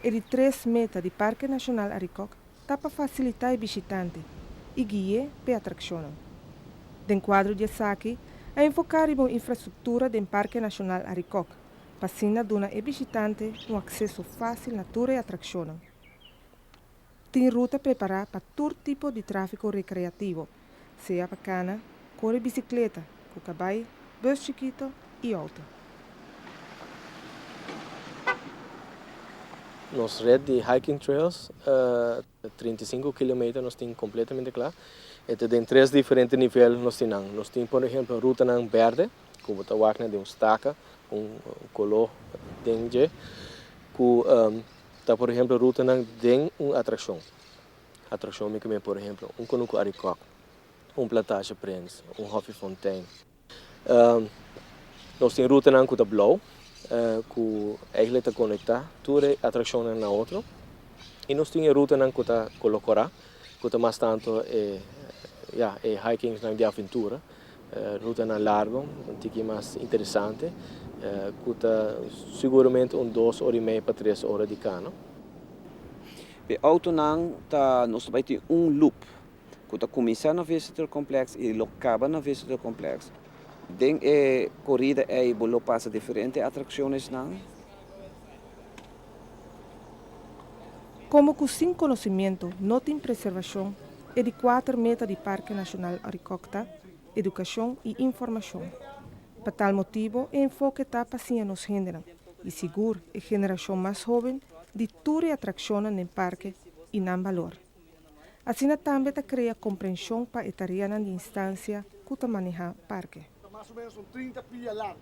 E di tres meta di Parke Nashonal Arikok ta pa fasilitá e bishitante i gui'é pa e atrakshonnan. Den kuadro di esaki a enfoká riba un infrastruktura den Parke Nashonal Arikok pa asina duna e bishitante un akseso fásil na tur e atrakshonnan. Tin ruta prepará pa tur tipo di tráfiko rekreativo, sea pa kana, kore bisikleta, ku kabai, bus chikito i outo. Nos rèt di hiking trails, trinta i sinku kilometer, nos tin kompletamente kla. E ta den tres diferente nivel nos tin nan. Nos tin por ehemplo rutanan bèrdè, ku bo ta wak na den un staka, ku un koló den dje, ku Ta por ehemplo rutanan den un atraccion. Atraccion mi cume por ehemplo un conuco arikok, un plantage prins, un hopi fontein. Nos tin rutanan cu ta blauw cu eigenlijk ta conecta tur e atraccionnan na otro y nos tin e rutanan cu ta color cora cu ta mas tanto e ya e hikings nan di aventura Rutanan largo, un tiki mas interesante, ku ta siguramente un dos ora i mei pa tres ora di kano. E outonan ta, nos ta bai tin un loop ku ta kuminsá na Visitor Complex i lo kaba na Visitor Complex. Den e korida ei bo lo pasa diferente atrakshoneshnan. Komo ku sin konosementu no tin preservashon e di kuater meta di Parke Nashonal Arikok ta, Edukashon i Informashon. Pa tal motibu e enfoke ta pa siña nos hendenan i sigur e generashon mas hoben di tur e atrakshonnan den parke i nan balor. Asina tambe ta krea komprenshon pa e tareanan di instansia ku ta maneha parke. Ta mas o menos un trinta pia largu.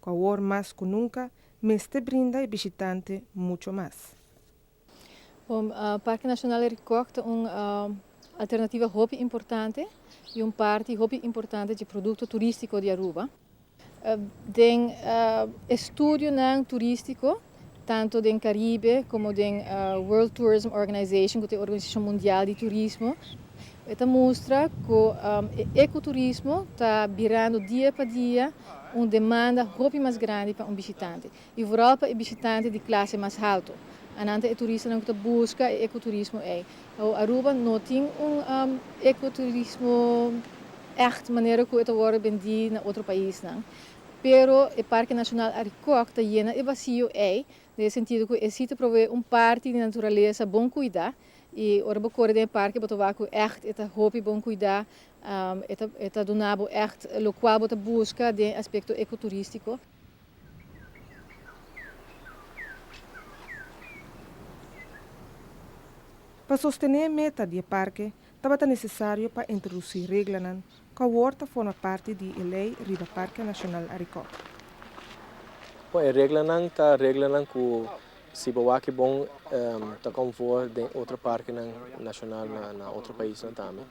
cu awor mas cu nunca mester brinda e bishitante mucho mas. Bo, Parke Nacional di Ricog ta un alternativa hopi importante y un parti hopi importante dje producto turistico di Aruba. Den e studionan turistico. tanto den Caribe como den World Tourism Organization, cu ta e organisacion mundial di turismo, e ta mustra cu e ecoturismo ta birando dia pa dia un demanda hopi mas grandi pa un bishitante, y vooral pa e bishitante di clase mas halto. Anan ta e turistanan cu ta busca e ecoturismo ey. Awor, Aruba no tin un ecoturismo echt manera cu e ta worde bendi na otro paisnan. Pero e Parke Nashonal Arikok ta yena e vasiyo ei den e sentido ku e si ta proveé un parti di naturalesa bon kuidá i ora bo kore den e parke bo ta wak ku ègt e ta hopi bon kuidá, e ta duna bo ègt lokual bo ta buska den aspekto ekoturístiko. Pa sostené e meta di e parke tabata nesesario pa introdusí reglanan Kawor ta forma parti di e lei riba Parke Nashonal Arikok. Bon, e reglanan ta reglanan ku si bo wak bon ta kom voor den otro parkenan nashonal na otro paisnan tambe.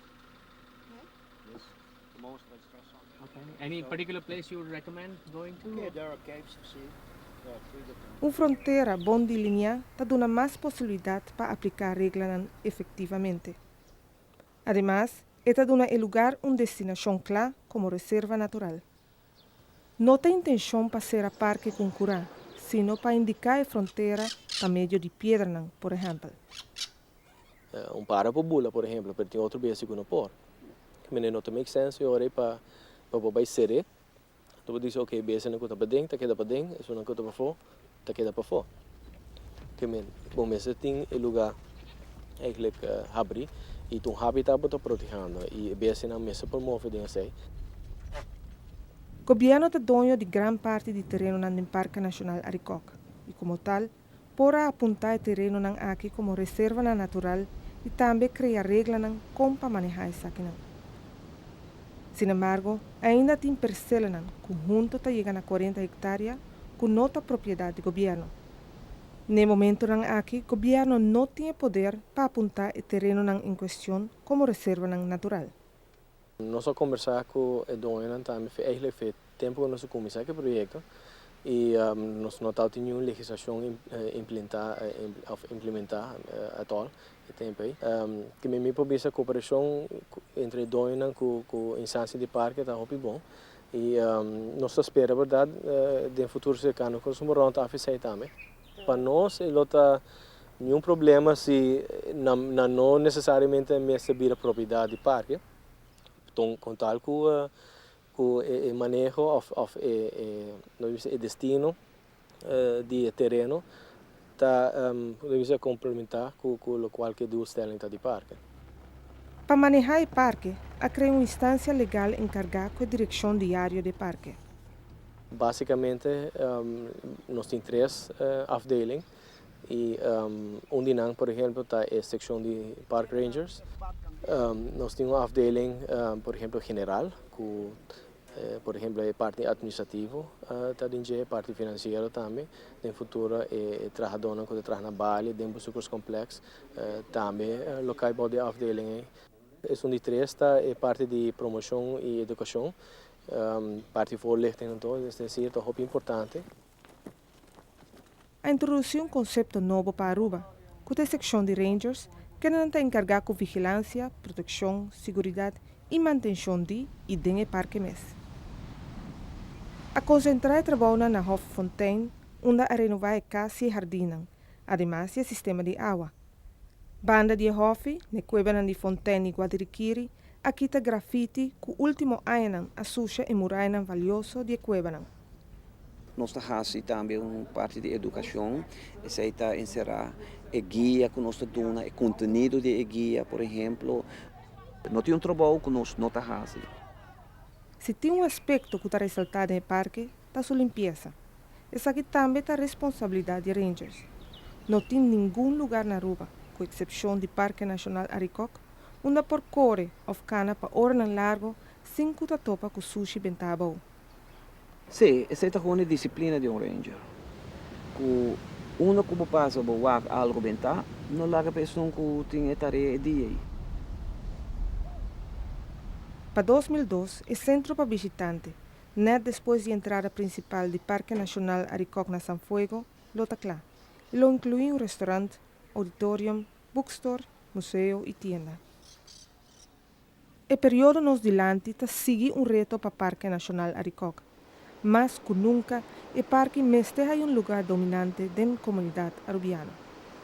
Un frontera bon deliniá ta duna mas posibilidat pa apliká reglanan efektivamente. Ademas, e ta duna e lugar un destinashon kla komo reserva natural. No ta intenshon pa sera parke ku un kurá, sino pa indiká e frontera pa medio di piedranan, por ehèmpel. Un para por bula, por ehèmpel, pero tin otro bes di ku no por. Mené no ta make sense, e ora ei pa bo bai ser'é. Ta por dici oke besenan cu ta paden ta keda paden esunnan cu ta pafo ta keda pafo te men bo mester tin e lugar eigenlijk habri y ta un habitat bo ta protegendo y e besenan mester por move den esey. Gobierno ta doño di gran parti di terenonan den Parke Nacional Arikok y como tal Por a apunta e terenonan aki como reservanan natural y tambe crea reglanan con pa maneha esakinan. Sin embargo, ainda tin percelanan cu hunto ta yega na cuarenta hectarea cu no ta propiedad di gobierno. N'e momentonan aki gobierno no tin e poder pa apunta e terenonan en cuestion como reservanan natural. Nos a kombersá ku e doñonan tambe fi eigelik fi tempu ku nos a kuminsá ku e proyekto i nos no tabatin ningun legislashon implentá òf implimentá at òl e tempu ei. Te mimí por bisa koperashon entre e doñonan ku instansia di parke ta hopi bon i nos ta spera bèrdat den futuro serkano ku nos por rònt afe esei tambe. Pa nos e lo ta niun problema si nan no nesesariamente a mester bira propiedad di parke, con tal cu cu e maneho of e lo ta bisti e destino di e tereno ta lo ta bisti complementa cu locual cu e doelstelling ta di parke. Pa maneha e parke a crea un instancia legal encarga cu e direccion diario di e parke. Básikamente nos tin tres afdeling i un di nan por ehèmpel ta e sekshon di park rangers. Nos tin un afdeling por ehèmpel general ku por ehèmpel e parti administrativo ta den dje, parti finansiero tambe. Den futuro e trahadónan ku ta traha na Bali den Bezoekerscomplex tambe lo kai bou di e afdeling ei. Esun di tres ta e parti di promoshon i edukashon, parti voorlichting nan to, es desir ta hopi importante. A introdusí un konsepto nobo pa Aruba, ku ta e sekshon di Rangers, kendenan ta enkargá ku vigilansia, protekshon, siguridat i mantenshon di i den e parke mes. A konsentrá e trabounan na Hoffontein, unda a renová e kas i e hardinnan, ademas di e sistema di awa, Banda di e hòfi, n'e kuebanan di Fontèn di Guadiriquiri, a kita grafiti ku último añanan a susha e murayanan valioso di e kuebanan. Nos ta hasi tambe un parti di edukashon, esei ta enserá e guia ku nos ta duna, e kontenido di e guia, por ehemplo. No tin un trabou ku nos no ta hasi. Si tin un aspekto ku ta resaltá den e parke, ta su limpiesa. Esaki tambe ta responsabilidat di Rangers. No tin ningun lugar na Aruba, ku eksepshon di Parke Nashonal Arikok, unda por kore òf kana pa oranan largu sin ku ta topa ku sushi bentá abou. Sí, esei ta hondi disiplina di un Ranger, ku unda ku bo pasa bo wak algu bentá, no laga pa esun ku tin e tarea e dia ei. Pa dos mil dos, e sentro pa bishitante Nèt despues di entrada prinsipal di Parke Nashonal Arikòk na San Fuego lo ta kla i lo inkluí un restorant, auditorium, boekstore, museo i tienda. E periodo nos dilanti ta sigui un reto pa Parke Nashonal Arikòk. Mas ku nunka e parke mester haya un lugá dominante den komunidat Arubiano.